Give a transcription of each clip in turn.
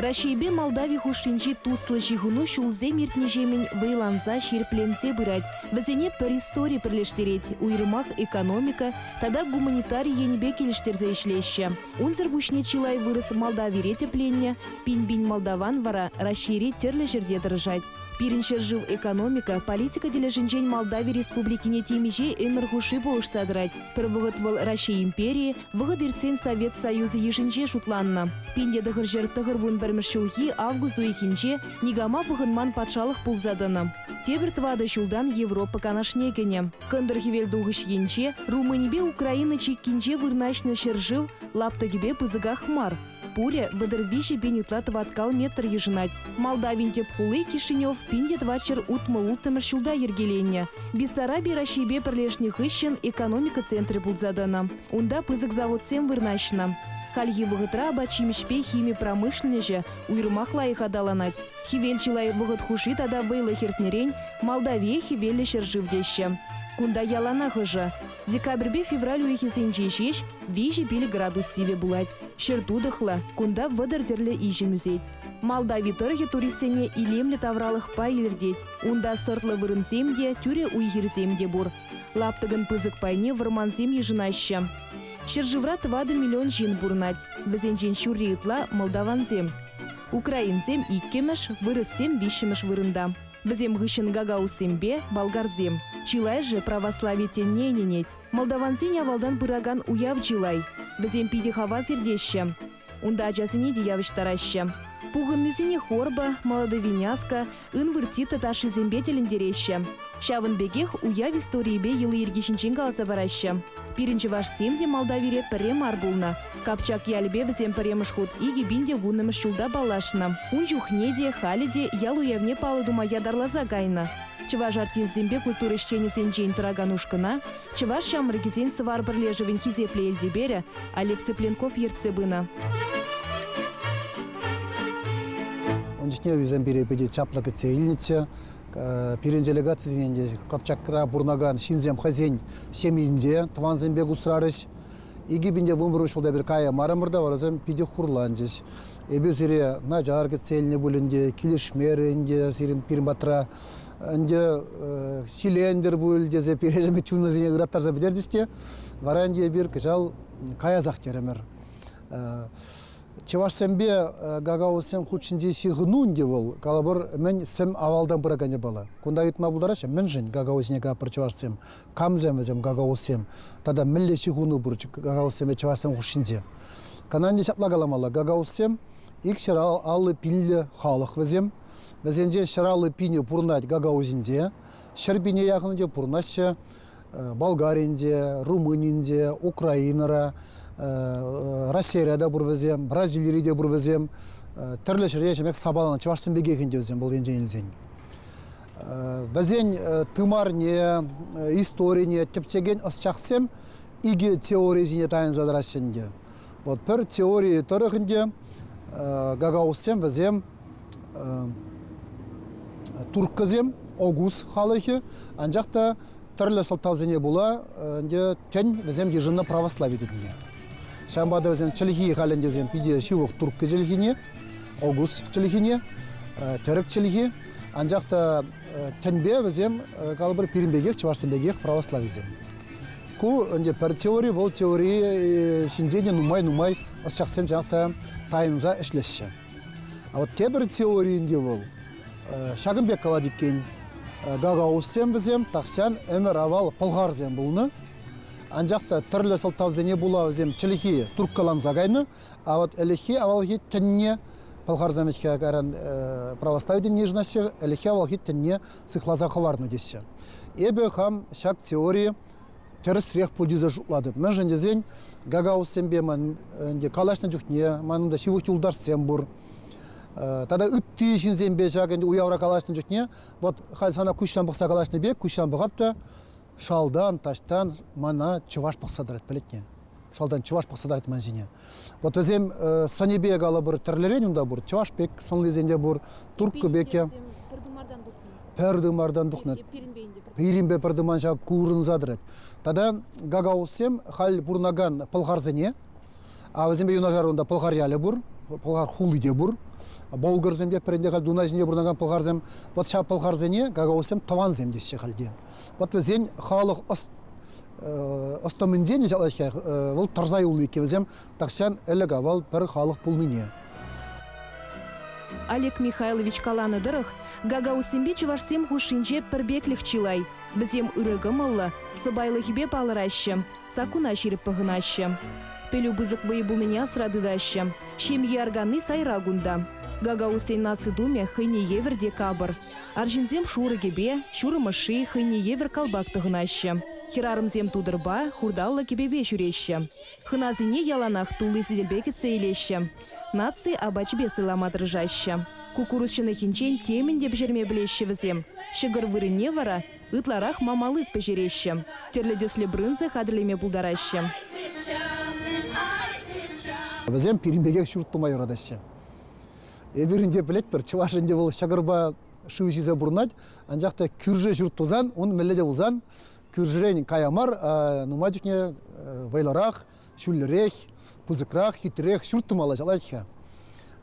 Раҫҫейпе Молдави хушшинчи туслӑ ҫыхӑну ҫулсем иртнӗҫемӗн вӑйланса, ҫирӗпленсе пырать. Вӗсене пӗр истори пӗрлештерет, уйрӑмах экономика тата гуманитари енӗпе килӗштерсе ӗҫлеҫҫӗ. Унсӑр пуҫне чылай вырӑс Молдавире тӗпленнӗ, пин-пин молдаван вара Раҫҫейре тӗрлӗ ҫӗрте тӑрӑшать. Пирӗн ҫӗршыв экономика, политика тӗлӗшӗнчен Молдави Республикине темиҫе ӗмӗр хушши пулӑшса тӑрать. Пӗр вӑхӑт вӑл Раҫҫей империйӗ, Вӑхӑт иртсен Совет Союзӗ йышӗнче шутланнӑ. Пин те тӑхӑр ҫӗр тӑхӑрвун пӗрмӗш ҫулхи август уйӑхӗнче никама пӑхӑнман патшалӑх пулса тӑнӑ. Тепӗр тӑватӑ ҫултан Европа Канашне кӗнӗ. Кӑнтӑр-хӗвелтухӑҫ енче, Румынипе Украина чиккинче вырнаҫнӑ ҫӗршыв лаптӑкӗпе пысӑках мар. Пурӗ вӑтӑр виҫӗ пин ытла тӑваткал метр йышӑнать. Молдавин тӗп хули Кишинев пин те тӑват ҫӗр утмӑл улттӑмӗш ҫулта йӗркеленнӗ. Бессараби Раҫҫейпе пӗрлешнӗ хыҫҫӑн экономика центрӗ пулса тӑнӑ. Унта пысӑк заводсем вырнаҫнӑ. Хальхи вӑхӑтра апат-ҫимӗҫпе хими промышленноҫӗ уйрӑмах лайӑх аталанать. Хӗвел чылай вӑхӑт хушши тата вӑйлӑ хӗртнӗрен Молдавие хӗвеллӗ ҫӗршыв теҫҫӗ. Кунта яланах ӑшӑ. Декабрьпе февраль уйӑхӗсенче ҫеҫ виҫӗ пил градус сивӗ пулать. Ҫӗр тутӑхлӑ, кунта вӑтӑр тӗрлӗ иҫӗм ӳсет. Молдави тӑрӑхӗ туристсене илемлӗ тавралӑхпа илӗртет. Унта сӑртлӑ вырӑнсем те, тӳре уй-хирсем те пур. Лаптӑкӑн пысӑк пайне вӑрмансем йышӑнаҫҫӗ. Ҫӗршывра тӑватӑ миллион ҫын пурӑнать. Вӗсенчен ҫурри ытла, молдавансем. Украинсем иккӗмӗш, вырӑссем виҫҫӗмӗш вырӑнта. Вӗсем хыҫҫӑн гагаузсемпе, болгарсем. Чылайӑшӗ православи тӗнне ӗненет. Молдавансен авалтан пыракан уяв чылай. Вӗсем питӗ хавас иртеҫҫӗ. Унта ачасене те явӑҫтараҫҫӗ. Пухӑннисене хорба, молодой виняска, ын выртита ташшисемпе тӗлӗнтереҫҫӗ. Ҫавӑн пекех уяв историйӗпе йӑли-йӗрки ҫинчен каласа параҫҫӗ. Пирӗн чӑвашсем те Молдавире пӗрре мар пулнӑ, Капчак ялӗпе вӗсем пӗрремӗш хут икӗ пин те вуннӑмӗш ҫулта паллашнӑ. Ун чухне те, халӗ те ял уявне паллӑ тума ятарласа кайнӑ. Чӑваш артисчӗсемпе культура ӗҫченӗсенчен тӑракан ушкӑна Чӑваш ҫамрӑкӗсен Сӑвар пӗрлешӗвӗн хисеплӗ элтеперӗ Олег Цыпленков ертсе пынӑ. Ун чухне вӗсем пире питӗ чаплӑ кӗтсе илнӗччӗ. Пирӗн делегацисене те Капчакра пурӑнакан ҫынсем хӑйсен ҫемйинче тӑвансемпе кусрарӗҫ. Икӗ пин те вунпӗр ҫулта пир каяймарӑмӑр та варасем питӗ хурланчӗҫ. Эпир сире начар кӗтсе илнӗ пуль ӗнтӗ, килӗшмерӗ ӗнтӗ сирӗн пирӗн патра. Ӗнтӗ ҫилентӗр пуль тесе пирӗн чунӑсене ыраттарса пӗтерчӗҫ те, вара ӗнтӗ эпир кӑҫал каясах терӗмӗр. Чӑвашсемпе гагаузсем хутшӑнчи ҫыхӑну ӗнтӗ вӑл, калӑпӑр, мӗн сӗм авалтан пыракан япала. Кунта ыйтма пултараҫҫӗ, мӗншӗн гагаузсене капӑр чӑвашсем камсем вӗсем гagaузсем тата мӗнле ҫыхӑну пур гagaузсемпе чӑвашсем хушшинче. Кананне ҫапла каламалла гagaузсем ик ҫӗр аллӑ пиллӗ халӑх вӗсем. Вӗсенчен ҫӗр аллӑ пинӗ пурӑнать Гагаузинче, ҫӗр пине яхӑннинче пурӑнаҫҫӗ Болгаринче, Румынинче, Украинӑра, Россире те пур вӗсем, Бразилире те пур вӗсем. Тӗрлӗ ҫӗрте ҫемех сапаланӑ чӑвашсем пекех ӗнтӗ вӗсем вӑл енчен илсен. Вӗсен тымарне, историне тӗпчекен ӑсчахсем икӗ теори ҫине тайӑнса тӑраҫҫӗ ӗнтӗ. Вот пӗр теори тӑрӑх ӗнтӗ гагаузсем вӗсем турккӑсем огуз халӑхӗ, анчах та Тӗрлӗ сӑлтавсене пула ӗнтӗ тӗн вӗсем йышӑннӑ православи тӗнне. Ҫавӑнпа та вӗсем чӗлхи халь ӗнтӗ вӗсем питӗ ҫывӑх турккӑ чӗлхине, огуз чӗлхине, тӗрӗк чӗлхи. Анчах та тӗнпе вӗсем калӑпӑр пирӗн пекех, чӑвашсем пекех православисем. Ку ӗнтӗ пӗр теори, вӑл теори ҫинчен те нумай-нумай ӑсчахсем чӑнах та тайӑнса ӗҫлеҫҫӗ. А вот тепӗр теори ӗнтӗ вӑл, Ҫакӑн пек калать иккен, гагаузсем вӗсем, тахҫан ӗмӗр-авал пӑлхарсем пулнӑ. Анчах та тӗрлӗ сӑлтавсене пула вӗсем чӗлхи турккаланса кайнӑ. А вот ӗлӗкхи авалхи тӗнне пӑлхарсем ӗҫке кайран православи тӗнне йышӑнаҫҫӗ, ӗлӗкхи авалхи тӗнне сыхласа хӑварнӑ теҫҫӗ. Эпӗ хам ҫак теори Тӗрӗсрех пуль тесе шутлатӑп. Мӗншӗн тесен Гагаузсемпе калаҫнӑ чухне манӑн та ҫывӑх юлташсем пур. Тата ытти ҫынсемпе ҫак уявра калаҫнӑ чухне вот халь сана куҫран пӑхса калаҫнӑ пек куҫран пӑхап та шалтан, таҫтан мана чӑваш пӑхса тӑрать пӗлетне. шалтан чӑваш пӑхса тӑрать ман ҫине. Вот вӗсем сӑнӗпе калӑпӑр тӗрлӗрен унта пур. Чӑваш пек сӑнлисен те пур, турккӑ пек те. Пӗр тымартан тухнӑ. Пӗр тымартан тухнӑ. Пирӗнпе пӗр тыман ҫав курӑнса тӑрать. Тата гагаузсем халь пурӑнакан пӑлхарсене, а вӗсемпе юнашар унта пӑлхар ялӗ пур, пӑлхар хули те пур. Болгарсем те пӗринте халь Дунай ҫинче пурӑнакан пӑлхарсем. Вот ҫав пӑлхарсене гагаузсем тӑвансем теҫҫӗ халь те. Вот вӗсен халӑх ӑс ӑстӑмӗнчен ҫатлаҫҫӗ, вӑл тӑрса юлнӑ иккен вӗсем, тахҫан ӗлӗк авал пӗр халӑх пулнине. Олег Михайлович каланӑ тӑрӑх, гагаузсемпе чӑвашсем хушшинче пӗрпеклӗх чылай. Вӗсем ырӑ кӑмӑллӑ, сӑпайлӑхӗпе палӑраҫҫӗ, саккуна ҫирӗп пӑхӑнаҫҫӗ. Пӗлӳ пысӑк вӑй пулнине асра тытаҫҫӗ. Ҫемье арканни сайра кунта. Гагаузсен наци тумӗ хӑйне евӗр те капӑр. Арҫынсем шурӑ кӗпе, ҫурӑм ӑшши, хӑйне евӗр калпак тӑхӑнаҫҫӗ. Хӗрарӑмсем тутӑрпа, хурталлӑ кӗпепе ҫӳреҫҫӗ. Хӑнасене яланах тулли сӗтелпе кӗтсе илеҫҫӗ, наци апачӗпе сӑйлама тӑрӑшаҫҫӗ. Куккурус ҫӑнӑхӗнчен темӗн те пӗҫерме пӗлеҫҫӗ вӗсем. Ҫӑкӑр вырӑнне вара ытларах мамалык пӗҫереҫҫӗ, тӗрлӗ тӗслӗ брынза хатӗрлеме пултараҫҫӗ. Вӗсем пирӗн пекех ҫурт тума юратаҫҫӗ. Эпир ӗнтӗ пӗлетпӗр, чӑваш ӗнтӗ вӑл ҫӑкӑрпа шыв ҫисе пурӑнать, анчах та кӳршӗ ҫурт тусан, ун мӗнле те пулсан, кӳршӗрен кая мар, нумай чухне вӑйлӑрах, ҫӳллӗрех, пысӑкрах, хитрех ҫурт тумалла ҫалать-ха.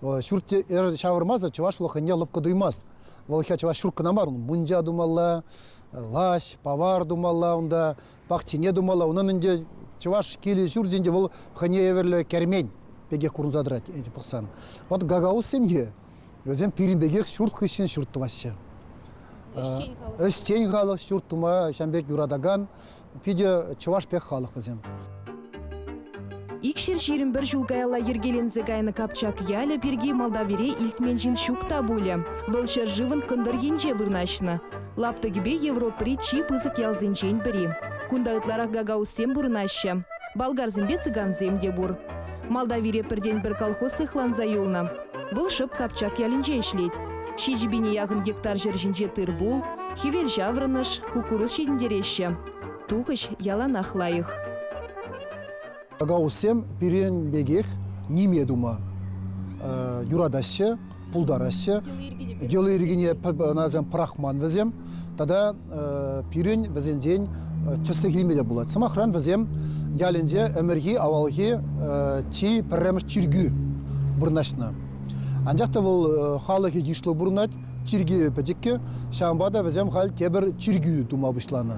Ҫурт ҫавӑрмасӑр чӑваш лӑхӑнне лӑпкӑ туймасть. Вӑл чӑваш ҫурт кӑна мар, мунча тумалла, лаҫ, павар тумалла унта, пахчине тумалла. Унӑн ӗнтӗ чӑваш кил-ҫуртӗнче вӑл хӑйне евӗрлӗ кермен пекех курӑнса тӑрать эти пӑхсан. Вот гагауз семье, вӗсем пирӗн пекех ҫурт хыҫҫӑн ҫурт тӑваҫҫӗ. Ӗҫчен халӑх ҫурт тума ҫам пек юратакан питӗ чӑваш пек халӑх вӗсем. Икҫӗр ҫирӗм пӗр ҫул каялла йӗркеленсе кайнӑ Капчак ялӗ пирки Молдавире илтмен ҫын ҫук та пулӗ. Вӑл ҫӗршывӑн кӑнтӑр енче вырнаҫнӑ. Лаптӑкӗпе Европӑри чи пысӑк ялсенчен пӗри. Кунта ытларах гагаузсем пурӑнаҫҫӗ. Болгарсемпе цыгансем те пур. Молдавире пӗртен-пӗр колхоз сыхланса юлнӑ. Вӑл шӑп Капчак ялӗнче ӗҫлет. Ҫичӗ пине яхӑн гектар ҫӗр ҫинче тыр-пул, хӗвел ҫаврӑнӑш, куккурус ҫитӗнтереҫҫӗ. Тухӑҫ яланах лайӑх. Тагауссем пирӗн пекех ниме тума юратаҫҫӗ, пултараҫҫӗ. Йӑли-йӗркине ӑнасем пӑрахман вӗсем. Тата пирӗн вӗсенчен тӗслӗх илме те пулать. Сӑмахран, вӗсем ялӗнче ӗмӗрхи-авалхи чи пӗрремӗш чиркӳ вырнаҫнӑ. Анчах та вӑл халӑхӗ йышлӑ пурӑнать. Чиркӳ пӗчӗккӗ, ҫавӑнпа та вӗсем халь тепӗр чиркӳ тума пуҫланӑ.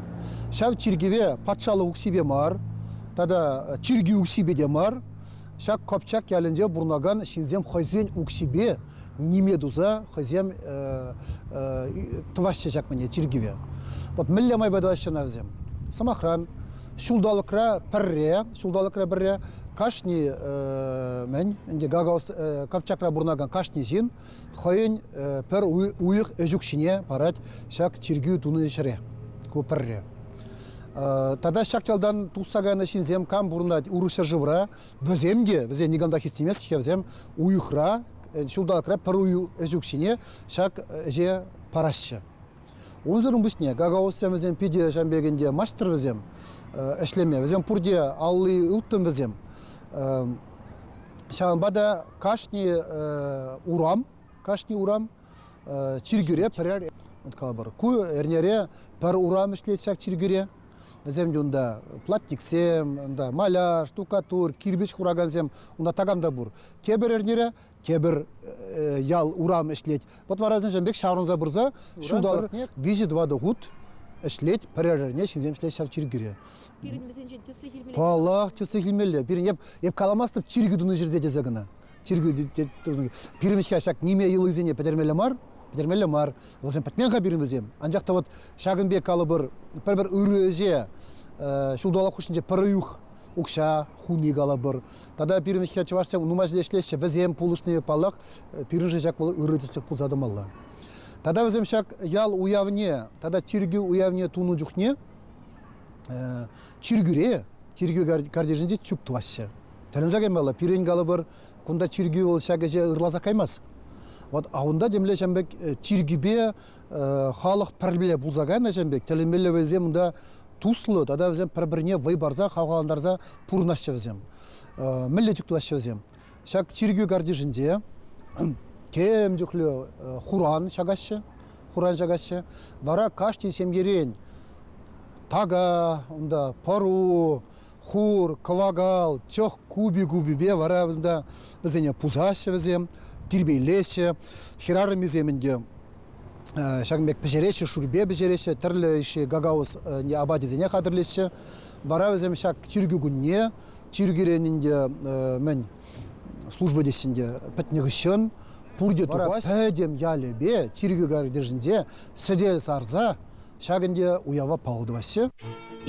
Ҫав чиркӗве патшалӑх укҫипе мар тата чиркӳ укҫипе те мар, ҫак Копчак ялӗнче пурӑнакан ҫынсем хӑйсен укҫипе ниме туса хӑйсем тӑваҫҫӗ ҫак мӗне чиркӗве. Вот мӗнле майпа тӑваҫҫӗ ӑна вӗсем? Сӑмахран, ҫулталӑкра пӗрре, ҫулталӑкра пӗрре кашни мӗн ӗнтӗ Капчакра пурӑнакан кашни ҫын хӑйӗн пӗр уйӑх ӗҫ укҫине парать ҫак чиркӳ тунӑ ҫӗре. Ку пӗрре. Тата ҫак ялтан тухса кайнӑ ҫынсем кам пурӑнать урӑх ҫӗршывра, вӗсем те, вӗсен никам та хистемест-ҫке, вӗсем уйӑхра, ҫулталӑкра пӗр ӗҫ укҫине ҫак ӗҫе параҫҫӗ. Унсӑрӑн пуҫне гагаузсем вӗсем питӗ ҫавӑн пекенте маҫтӑр вӗсем ӗҫлеме, вӗсем пурте алли ылтӑн вӗсем. Ҫавӑнпа та кашни урам, кашни урам чиркӳре пӗрер калӑпӑр. Ку эрнере пӗр урам ӗҫлет ҫак чиркӳре. Вӗсем унта платниксем, маляр, штукатур, кирпӗч хуракансем, унта такам та пур. Тепӗр эрнере тепӗр ял урам ӗҫлет. Пӑтварасенчен пек ҫаврӑнса пырса ҫулталӑк виҫӗ-тӑватӑ хут ӗҫлет, пӗрер эрне ҫынсем ӗҫлет ҫав чиркӳре. Пирӗн вӗсенчен тӗслӗх илмелле. Паллах, тӗслӗх илмелле. Пирӗн эп, эп каламастӑп чиркӳ тунӑ ҫӗрте тесе кӑна. Чиркӳ пирӗн ҫак ниме йӑлисене пӗтермелле мар, пӗтермелле мар. Вӗсем пӗтмен-ха пирӗн вӗсем. Анчах та вот ҫакӑн пек калӑпӑр, пӗр-пӗр ырӑ ӗҫе ҫулталӑк хушшинче пӗр уйӑх укҫа хуни калӑпӑр, Тата пирӗн ӗҫче чӑвашсем нумайӑшӗ ӗҫлеҫҫӗ. Вӗсем пулӑшни, паллах, пирӗншӗн ҫак вӑл ырӑ тӗслӗх пулса тӑмалла. Тата вӗсем ҫак ял уявне тата чиркӳ уявне тунӑ чухне чиркӳре, чиркӳ картишӗнче чуп тӑваҫҫӗ. Тӗлӗнсе каймалла, пирӗн калӑпӑр, кунта чиркӳ вӑл ҫак ӗҫе ырласа каймасть. Вот, а унта темле ҫам пек чиркӳпе халӑх пӗрле пулса кайнӑ ҫын пек тӗлӗнмеллевӗсем унта туслӑ тата вӗсем пӗр-пӗрне вӑй парса хавхалантарса пурӑнаҫҫӗ вӗсем. Мӗнле чухлаҫҫӗ вӗсем? Ҫак чиркӳ картишӗнче тем чухлӗ хуран ҫакаҫҫӗ, хуран ҫакаҫҫӗ. Вара кашни ҫемьерен така, унта пӑру, хур, кӑвакал, чӑх купи-купипе вара вӗсенте, вӗсене пусаҫҫӗ вӗсем, тирпейлеҫҫӗ. Хӗрарӑмӗсем ӗнтӗ ҫакӑн пек пӗҫереҫҫӗ, шурпе пӗҫереҫҫӗ, тӗрлӗ ӗҫе гagauz апатӗсене хатӗрлеҫҫӗ. Вара вӗсем ҫак чиркӳ кунне, чиркӳрен ӗнтӗ мӗн служба теҫҫӗ ӗнтӗ, пӗтнӗ хыҫҫӑн пурте тухаҫҫӗ. Пӗтӗм ялӗпе, чиркӳ картишӗнче сӗтел сарса Ҫак ӗнтӗ уява паллӑ тӑваҫҫӗ.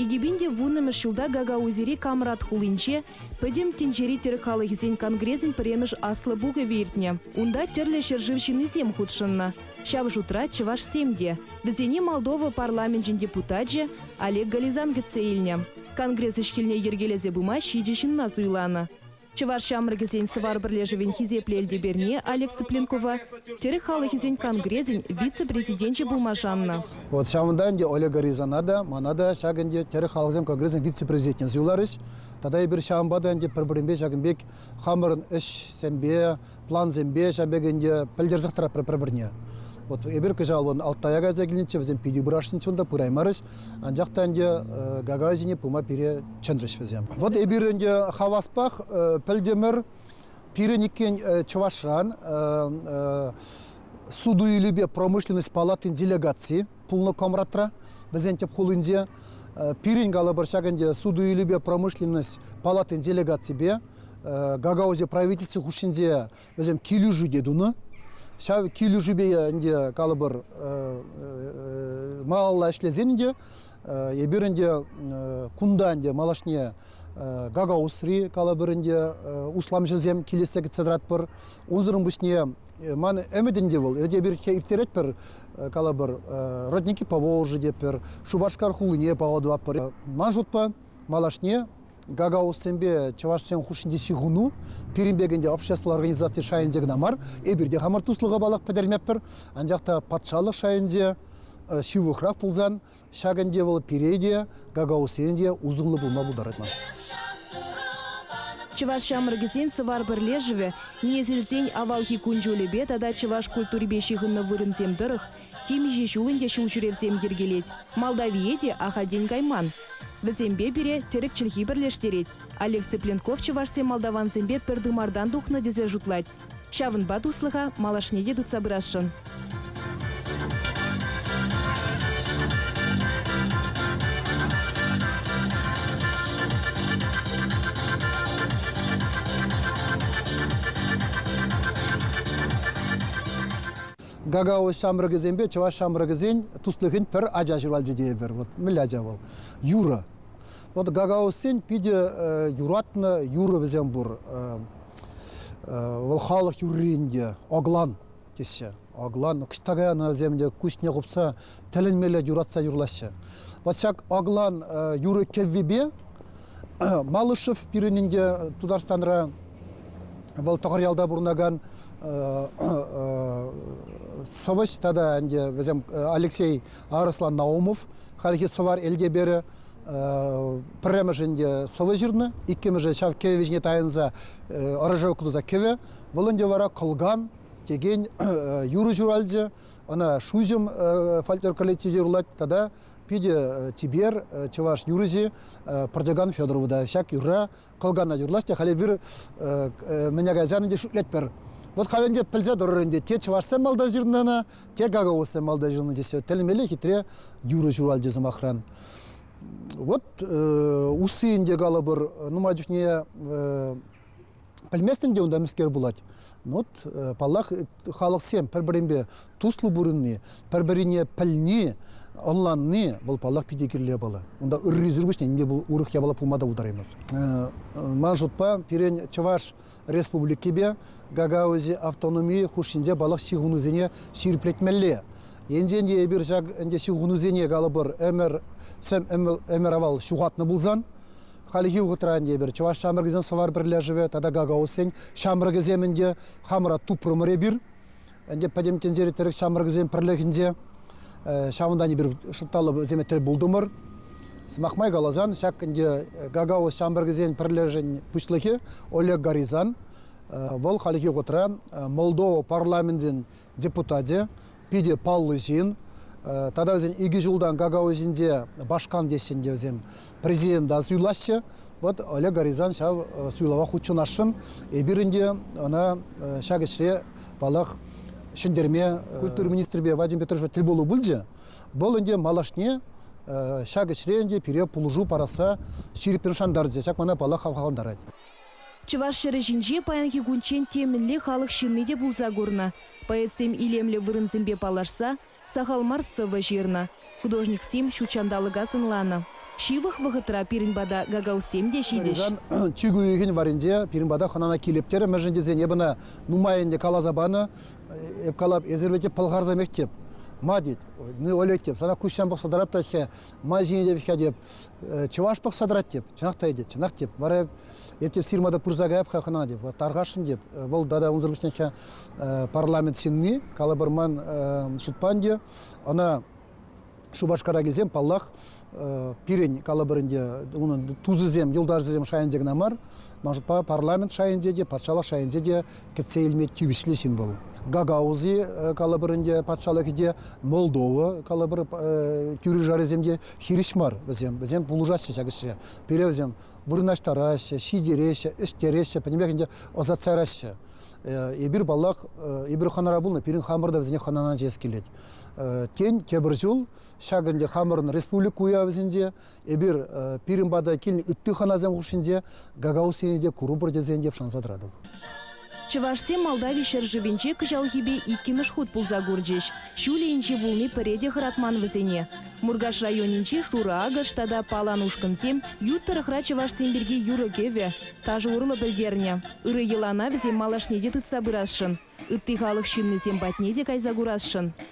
Икӗпинте вуннӑмӗш ҫулта Гагаузири Камрат хулинче Пӗтӗм тӗнчери тӗрӗк халӑхӗсен конгресӗн пӗрремӗш Аслӑ пухӑвӗ иртнӗ. Унта тӗрлӗ ҫӗршыв ҫыннисем хутшӑннӑ. Ҫав шутра чӑвашсем те. Вӗсене Молдова парламенчӗн депутачӗ Олег Гализан кӗтсе илнӗ. Конгресс ӗҫ-хӗлне йӗркелесе пыма ҫичӗ ҫынна суйланӑ. Чӑваш ҫамрӑкӗсен Сӑвар пӗрлешӗвӗн хисеплӗ Элтеперне Олег Цыпленкова, тӗрӗк халӑхӗсен конгресӗн вице-президенчӗ пулма шаннӑ. Вот ҫавӑнта ӗнтӗ Олега Рязана та, мана та ҫак ӗнтӗ тӗрӗк халӑхӗсен конгресӗн вице-президентне суйларӗҫ. Тата эпир ҫавӑнпа та ӗнтӗ пӗр-пӗринпе ҫакӑн пек хамӑрӑн ӗҫсемпе, плансемпе ҫав пек ӗнтӗ пӗлтерсех тӑратпӑр пӗр-пӗрне. Вот эпир кӑҫал вон Алтая кайса килнӗччӗ, вӗсем питӗ пырашнӑччӗ унта, пыраймарӗҫ. Анчах та ӗнтӗ Гагай ҫине пыма пире чӗнрӗҫ вӗсем. Вот эпир ӗнтӗ хаваспах пӗлтӗмӗр пирӗн иккен Чӑвашран суту-илӳпе промышленность палатин делегации пулнӑ Комратра, вӗсен тӗп хулинче. Пирӗн калӑпӑр ҫак ӗнтӗ суту-илӳпе промышленность палатин делегаципе Гагаузия правительстви хушшинче вӗсем килӗшӳ те тунӑ. Ҫав килӗшӳпе ӗнтӗ калӑпӑр малалла ӗҫлесен ӗнтӗ эпир ӗнтӗ кунта ӗнтӗ малашне Гагаузри калӑпӑр ӗнтӗ усламҫӑсем килессе кӗтсе тӑратпӑр. Унсӑрӑн пуҫне ман ӗмӗт ӗнтӗ вӑл. Эпир ирттеретпӗр калӑпӑр родники по Волжи тетпӗр, Шупашкар хулине паллӑ тӑватпӑр. Ман шутпа малашне гагаузсемпе чӑвашсем хушшинчи ҫыхӑну пирӗн пек ӗнтӗ общество организаци шайӗнче кӑна мар, эпир те хамӑр туслӑха паллах пӗтермеппӗр, анчах та патшалӑх шайӗнче ҫывӑхрах пулсан ҫак ӗнтӗ вӑл пире те, гагаузсене те усӑллӑ пулма пултарать ман. Чӑваш ҫамрӑкӗсен Сӑвар пӗрлешӗвӗ, несӗлсен авалхи кун-ҫулӗпе тата чӑваш культурипе ҫыхӑннӑ вырӑнсем тӑрӑх Темиҫе ҫул ӗнтӗ ҫулҫӳревсем йӗркелет. Молдавие те ахальтен кайман. Вӗсемпе пире тӗрӗк чӗлхи пӗрлештерет. Олег Цыпленков чӑвашсем-молдавансемпе пӗр тымартан тухнӑ тесе шутлать. Ҫавӑнпа туслӑха малашне те тытса пырасшӑн. Гагао ҫамрӑкӗсемпе чӑваш ҫамрӑкӗсен туслӑхӗн пӗр ача ҫуралчӗ тейӗпӗр. Вот мӗнле ача вӑл? Юрӑ. Вот гагаосен питӗ юратнӑ юрӑ вӗсем пур. Вӑл халӑх юрринче оглан теҫҫӗ. Оглан, кӑштакая ӑна вӗсем те куҫне хупса тӗлӗнмелле юратса юрлаҫҫӗ. Вот ҫак оглан юрӑ кӗввипе Малышев пирӗн ӗнтӗ Тутарстанра вӑл Тӑхӑръялта пурӑнакан сӑвӑҫ тата ӗнтӗ вӗсем Алексей Арӑслан Наумов хальхи сӑвар Элтеперӗ пӗрремӗш ӗнтӗ сӑвӑ ҫырнӑ иккӗмӗшӗ ҫав кӗвӗ ҫине тайӑнса ӑрӑша ӑкӑтса кӗвӗ вӑл ӗнтӗ вара кӑлкан текен юрӑ ҫуралчӗ ӑна шуҫӑм фольклор коллективӗ юрлать тата Питӗ типер чӑваш юрӑҫи Пӑртекан Федорова та ҫак юрра кӑлкана юрлас те халь эпир мӗне кайсан ӗнтӗ шӳтлетпӗр. Вот халь ӗнтӗ пӗлсе тӑрӑр ӗнтӗ, те чӑвашсем малта ҫырнӑ те гагаузсем малта ҫырнӑ тесе тӗлмелле хитре юрӑ ҫуралчӗ сӑмахран. Вот усси ӗнтӗ калӑпӑр нумай чухне Пӗлместӗн те унта мӗскер пулать. Вот, паллах, халӑхсем пӗр-пӗринпе туслӑ пурӑнни, пӗр-пӗрине пӗлни, ӑнланни вӑл паллах питӗ кирлӗ япала. Унта ыррисӗр пуҫне нимне пул урӑх япала пулма та пултараймасть. Ман шутпа, пирӗн Чӑваш Республикипе Гагаузи автономи хушшинче паллах ҫыхӑнусене ҫирӗплетмелле. Енчен те эпир ҫак ӗнтӗ ҫыхӑнусене калӑпӑр ӗмӗр сӗм ӗмӗр авал ҫухатнӑ пулсан, Хальхи вӑхӑтра ӗнтӗ эпир Чӑваш ҫамрӑкӗсен сӑвар пӗрлешӗвӗ тата Гагаузсен ҫамрӑкӗсем ӗнтӗ хамӑра тупрӑмӑр эпир. Ӗнтӗ пӗтӗм тӗнчери тӗрӗк ҫамрӑкӗсен пӗрлӗхӗнче ҫавӑнтан эпир шӑтталлӑ сӗме тӗл пултӑмӑр. Сӑмах май каласан, ҫак ӗнтӗ Гагауз ҫамрӑкӗсен пӗрлешӗн пуҫлӑхӗ Олег Горизан. Вӑл хальхи вӑхӑтра Молдова парламентӗн депутатӗ, питӗ паллӑ ҫын. Тата вӗсен икӗ ҫултан какао ӗҫӗнче башкан теҫҫӗ ӗнтӗ вӗсем, президента суйлаҫҫӗ. Вот Олег Горизан ҫав суйлава хутшӑнасшӑн. Эпир ӗнтӗ ӑна ҫак ӗҫре, паллах, ҫӗнтерме культура министрӗпе Вадим Петровичпа тӗл пулу пулчӗ. Вӑл ӗнтӗ малашне ҫак ӗҫре ӗнтӗ пире пулӑшу парасса ҫирӗппӗн шантарчӗ. Ҫак мана паллах хавхалантарать. Чӑваш ҫӗрӗ ҫинче паянхи кунччен те мӗнле халӑх ҫынни те пулса курнӑ. Поэтсем илемлӗ вырӑнсемпе паллашса сахал мар сӑвӑ ҫырнӑ, художниксем ҫут ҫанталӑка сӑнланӑ. Ҫывӑх вӑхӑтра пирӗн пата гагаузсем те ҫитӗҫ. Чиркӳ уйӑхӗн варринче пирӗн пата хӑнана килӗптерӗ, мӗншӗн тесен эпӗ ӑна нумай ӗнтӗ каласа панӑ. Эп калап, эсир вӗт пӑлхарсемех теп. Ма тет. Ну, Олег теп, сана куҫран пӑхса тӑрап та-ҫке, ма ҫине теп-ҫке теп. чӑваш пӑхса тӑрать теп, чӑнах та этет, чӑнах теп. Вара эп теп сирмада пырса каяп-ха хӑна теп, тархасшӑн теп. Вӑл тата унсӑр пуҫне парламент ҫынни, калӑпӑрман шутпан те, ӑна Шупашкара килсем, паллах, пирӗн калӑпӑрӗнче унӑн тусӗсем, юлташӗсем шайӗнче кӑна мар, ман шутпа парламент шайӗнче те, патшалӑх шайӗнче те кӗтсе илме тивӗҫлӗ ҫын вӑл. Гагаузи, калӑпӑр ӗнтӗ, патшалӑхӗ те, Молдова, калӑпӑр, тӳре-шарӗсем те хирӗҫ мар вӗсем. Вӗсем пулӑшаҫҫӗ ҫак ӗҫре. Пире вӗсем вырнаҫтараҫҫӗ, ҫитереҫҫӗ, ӗҫтереҫҫӗ, пӗтӗмпех ӗнтӗ ӑсатса яраҫҫӗ. Эпир, паллах, эпир хӑнара пулнӑ, пирӗн хамӑр та вӗсене хӑнана ҫиес килет. Тен, тепӗр ҫул ҫак ӗнтӗ хамӑрӑн республика уявӗсенче эпир пирӗн пата килнӗ ытти хӑнасем хушшинче гагаузсене те курӑпӑр тесен те шанса тӑратӑп. Чӑвашсем Молдави ҫӗршывӗнче кӑҫалхипе иккӗмӗш хут пулса курчӗҫ. Ҫулӗ инҫе пулни пӗре те хӑратман вӗсене. Муркаш районӗнчи Шурӑ-Акӑш тата Палан ушкӑнсем ют тӑрӑхра чӑвашсем пирки юрӑ-кӗвӗ, ташӑ урлӑ пӗлтернӗ. Ырӑ йӑлана вӗсем малашне те тытса пырасшӑн, ытти халӑх ҫыннисем патне те кайса курасшӑн.